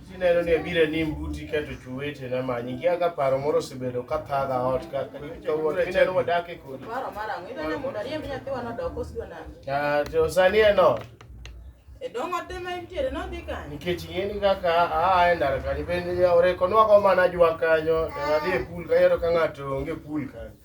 Sineno ni abiro e nim buti keto chuwete na manyi ngia ka paro moro osebedo ka thaga ot ka kawuono ineno wadak e kodi. Paro mar ang'o? Ineno mondo ariemb nyathiwa nodok osidwa nade? Ah, to sani en ot. E dong' ote ma intiere nodhi kanye? Nikech ing'eni kaka aa e ndara kanyo bende orekonwago mana jwa kanyo to nadhi e pool kayero ka ng'ato onge pool kanyo.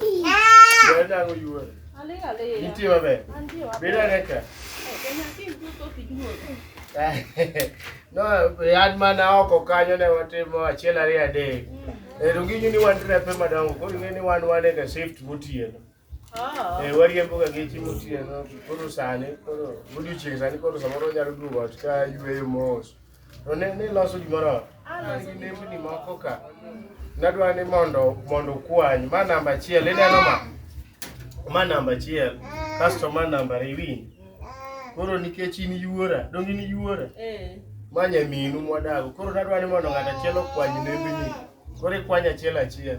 Bẹ́ẹ̀ náà ló yú ẹ̀. Alẹ́ alẹ́ yẹn. Ní tí o bẹ̀. Bẹ́ẹ̀ náà lẹ́kẹ̀. Ẹ̀kẹ́ náà kí n tó tó fi dúró. No, yad mana oko kanyo ne watimo achiel ariyo adek. Ero ginyu ni wan trepe madongo, koro ing'e ni wan wan e shift gotieno. Ah. Eh, wariembo ga geche motieno, koro sani, koro odiochieng' sani koro samoro onyalo duogo ot ka yweyo mos. To ne ne loso gimoro an gi nembni moko ka nadwa ni mondo mondo kwany ma namba achiel ineno ma ma namba achiel kasto ma namba ariyo in koro nikech in yuora donge in yuora Eh. ma nyaminu mwadago koro nadwa ni mondo ng'at achiel okwany nembni koro ikwany achiel achiel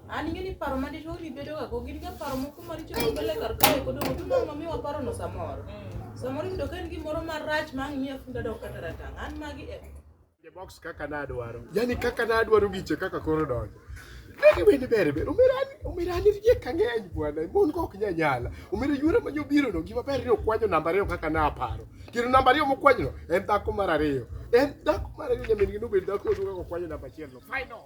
An ing'e ni paro madicho ori bedogago gin ga paro moko maricho mabele kar kae kodo to mano mamiyo waparono samoro. Samoro iyudo ka en gimoro marach ma ang' miya funda dok kata ratang'. An magi e box kaka nadwaro yani kaka nadwaro giche kaka koro donjo Negi wende ber ber umirani umirani rie kang'eny bwana mon go ok nyanyala umira yuora ma nyobiro no gima ber ni okwanyo namba ariyo kaka naparo kendo namba ariyo mokwanyo no en dhako mar ariyo en dhako mar ariyo nyamin gi nobed dhako duka kokwanyo namba achiel no final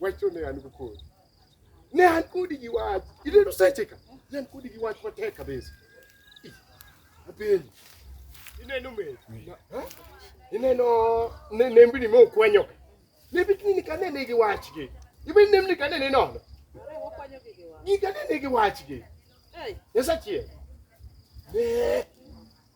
Wacho ne an go kodi. Ne an kodi gi wach. Ineno seche ka. Ne an kodi gi wach matek kabisa. Ih, Apenji. Ineno me. Ha? Ineno ne nembni ma okwanyo. Nembni ni kane ne gi wachgi. Ibe nembni kane ne nono. Ni kane ne gi wachgi. Nyasachiel. Ne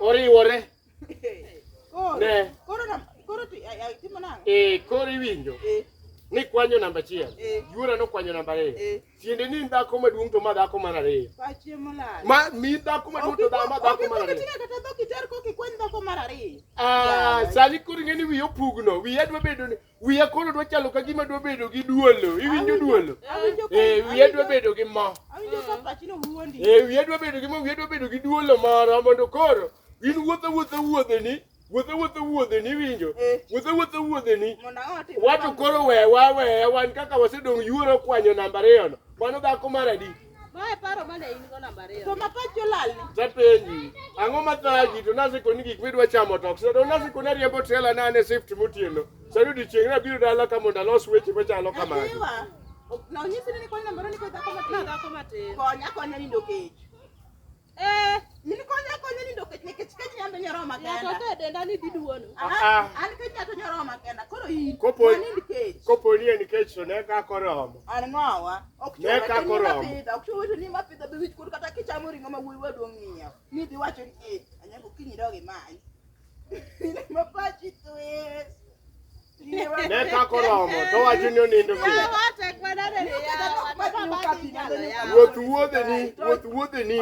oriwore ne e koro iwinjo eh. ni kwanyo namba achiel eh. yuora nokwanyo namba ariyo eh. tiende ni dhako maduong' to ma dhako mar ariyo ma mi dhako maduong' to ma dhako mar ariyo ah, sani koro ing'e ni wiye opugno wiye adwa bedo ni wiya koro dwa chalo ka gima dwa bedo gi duolo iwinjo duolo ee wiya dwa bedo gi mo ee wiya dwa bedo gi mo wiya dwa bedo gi duolo moro mondo koro in wuotho wuotho wuodheni wuotho wuotho wuodheni iwinjo eh. wuotho wuotho wuodheni wato koro wewa weya wan kaka wasedong' yuoro kwanyo namba ariyono mano dhako mar adi Mae paro mane in go namba ariyo. To mapach jolal ni. Tapenji, ang'o ma thagi to nasiko ni gik midwa chamo to okse. To nasiko na riembo trela na ne shift motieno. Sani odiechieng' na biro dala ka mondo alos weche machalo kamagi. Adiwa. Na onyisi ni koni namba ariyo ni koni dhako matin. Dhako matin. Konya konya nindo kech. Eh, in konya konya ni ndoket ne kech kech nyando nyoro ma kenda. Nyato te denda ni diduono. Ah, ah. An kech nyato nyoro ma kenda. Koro in. Kopo ni kech. Kopo ni en kech to ne ka koromo. An ngowa. Ok chuo ne ka koromo. Ok chuo wetu ni ma pidho be wich kur kata kichamo ringo ma wuwi waduong ng'iyo. Ni dhi wacho ni eh, anyago kinyi dogi mai. Ni ma pachi twist. Ne kako romo to wacho ni onindo piny. Wuoth wuodheni, wuoth wuodheni.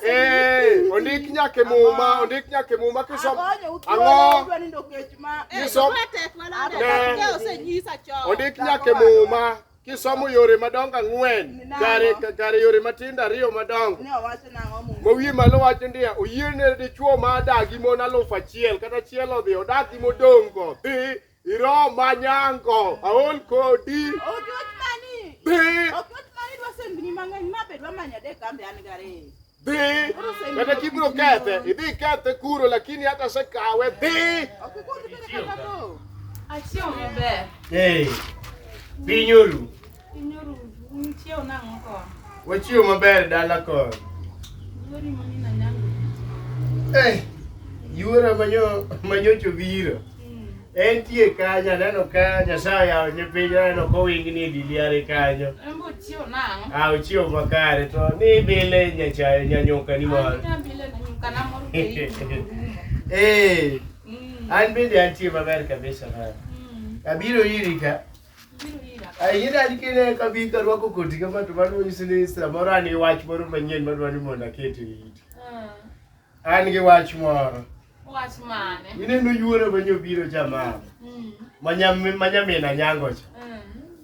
Eh, ondik nyaka e muma, ondik nyaka e muma kisomo. Ang'o? Kisomo. Ne. Ondik nyaka e muma. Kisomo yore madongo ang'wen, kare kare yore matindo ariyo madongo. Ne owacho nang'o Muma? Mawiye malo wacho ndiya oyiene dichuo ma adak gi mon alufu achiel kata achiel odhi odak gi modongo dhi iro manyango aol kodi Okiwach mani. dhi Okiwach mani dwa sendni mang'eny ma be dwa manyo adek kambe an gariyo. Dhi! Kata kibiro kethe, idhi ikethe kuro lakini hata sekawe dhi! Achiew maber. Hey, piny oru. Piny oru. Nichiew nang'o ko? Wachiew maber dala ko. Yori mami na nyango. Hey, yuora manyo manyocho biro. Entie kanyo, aneno ka Nyasaye oyawo ne piny, aneno ka owingni e diliare kanyo. Embo chiew nang'. Ah, ochiew makare to ni bile nyachayo nyanyuka ni moro. Anya bile na nyuka na moro pei. Eh, Mm. an bende antie maber kabisa man. Mm. Abiro iri ka. Biro ira. Ayira an kine ka bi ka rwako koti kama to mano nyiso ni samoro an gi wach moro manyien madwa ni mondo aket e iti. Ah. An gi wach moro. Wach mane? Mineno yuoro ma nyobiro cha mama. Mm. Ma nyamina nyango cha. Mm.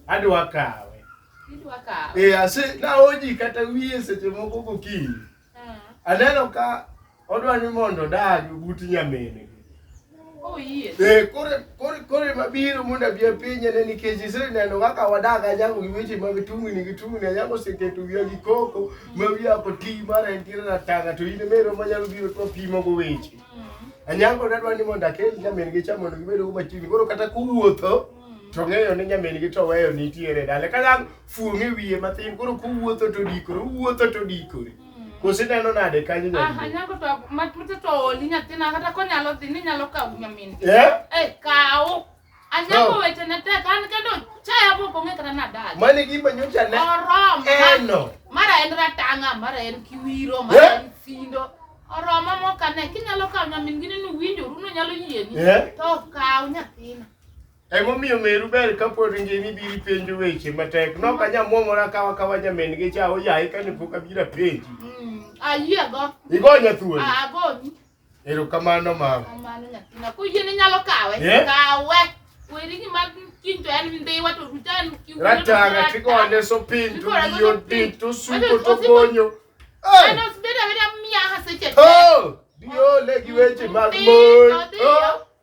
Adwa kawe. Idwa kawe. Eh, ase naoji kata wiye seche moko gokinyi. Mm. Aneno ka odwa ni mondo odag but nyamine. Oh, eh, koro ema biro mondo abi apiny ane nikech iseneno kaka wadak anyango gi weche mag tungni gi tungni anyango oseketo wiya gi koko ma wiya ok ti mara en tira na tanga to in emero manyalo biro to apimogo weche anyango nadwa ni mondo akel nyamin gi cha mondo gibed go machiegni koro kata kuwuotho to ng'eyo ni nyamin gi to weyo nitiere dale ka nyang fuong'e wiye matin koro kuwuotho to dikore uwuotho to dikore Kosi neno nade kanyo nyaminwa? Ah, anyango to matute to oli nyathina kata konyalo dhi ni nyalo kawo nyamin. Eh? Eh, kawo. Anyango weche ne tek an kendo chaya bo konge kata na dal. Mane gimba nyocha ne. Orom. Eno. Mara en ratanga, mara en kiwiro, mara eh? en sindo. Oroma mokane kinyalo kawo nyamin gini ni winjo runo nyalo yieni. Eh? To kawo nyathina. Emomiyo meru ber ka pod ngima ibiro penjo weche matek. Nok anya muomora kawa kawa nyamin gi cha oyaye ka ne pok abiro penji. Mm, ayie go. Igo nya thuol. Ah, go. Ero kamano ma. Kamano nyathina. Ko yie ni nyalo kawe. Yeah. Kawe. Weri ni mag kinto en ndi wato rutan ki. Ratanga tiko ande so pin tu yo din tu su ko to gonyo. Eh. Ano sbeda beda miya haseche. Oh! Dio le giweche mag mon. Oh!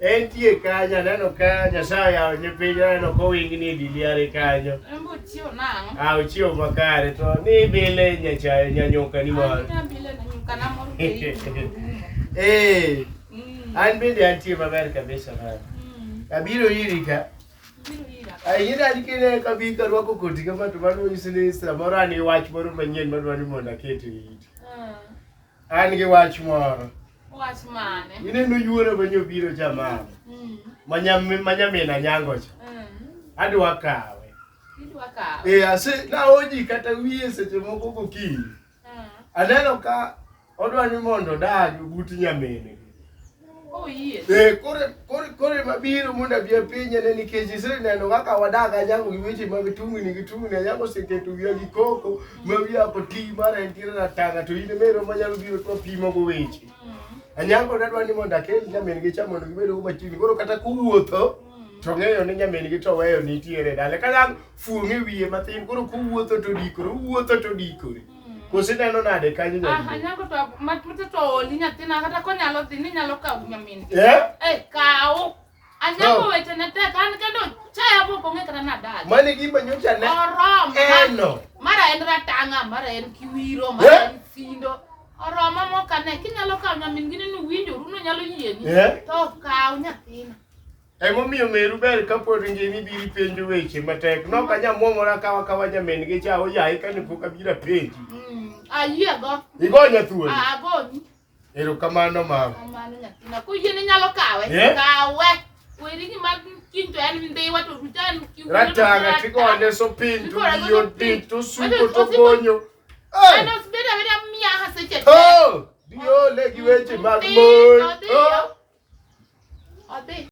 Entie kanyo aneno ka Nyasaye yawo ni piny aneno kowingni e diliare kanyo. Embo chiwo nang'o? Ah, ochiew makare to ni bile nyachayo nyanyuka ni moro. Anyita bile na nyuka na moro keibu. Eh, Mm, an bende antie maber kabisa man. mm, Abiro iri ka. biro ira. Ayida nikine kabi karwako koti kama to mano nyisi ni samoro an gi wach moro manyien madwa ni mondo aket e iti. An gi wach moro. Wach mane? Mineno yuoro ma nyobiro jamama. Mm. Ma nyamina nyango cha. Mm. Adwa kawe. Idwa kawe. Eh, ase na oji kata wiye seche moko gokinyi. Mm. Aneno ka odwa ni mondo dagi but nyamine. Eh, kore kore kore mabiro mondo abi apiny ane nikech iseneno kaka wadak anyango gi weche mag tungni gi tungni anyango oseketo wiya gi koko ma wiya ok ti mara entiere na tanga to in emero manyalo biro to apimo go weche anyango nadwa ni mondo akel nyamin gi cha mondo gibed go machiegni koro kata kuwuotho to ng'eyo ni nyamin gi to weyo nitiere dala kanyang fuong'e wiye matin koro kuwuotho to dikore uwuotho to dikore Kosi neno nade kanyo nyaminwa? Aha, nyako to mat mute to oli nyathina kata konyalo dhi ni nyalo kawo nyamin. Eh? Eh, kawo. Anyako no. weche ne tek an kendo chaya pok ong'e kata nadal. Mane gima nyocha ne. Orom. Eno. Mara en ratanga, mara en kiwiro, mara eh? en sindo. Oroma mokane kinyalo kawo nyamin gini ni winjoru no nyalo yieni. Eh? To kawo nyathina. Emomiyo meru ber ka pod ngima ibiro penjo weche matek. Nok anyamwomora kawa kawa nyamin gi cha oyaye kane pok abiro penji. Mm, ayiego. Igonya thuolo. Ah, agoni. Erokamano mama. Kamano nyathina. Kuyie ni nyalo kawe. Yeah. Kawe. Weri ni mag kinto en ndiwa to rutan kiwu. Ratanga tigonde so pin to yo pin to suko to gonyo. Hey. Ano sibeda beda mia haseche. Oh! Dio legi weche mag mon. Oh! Odi.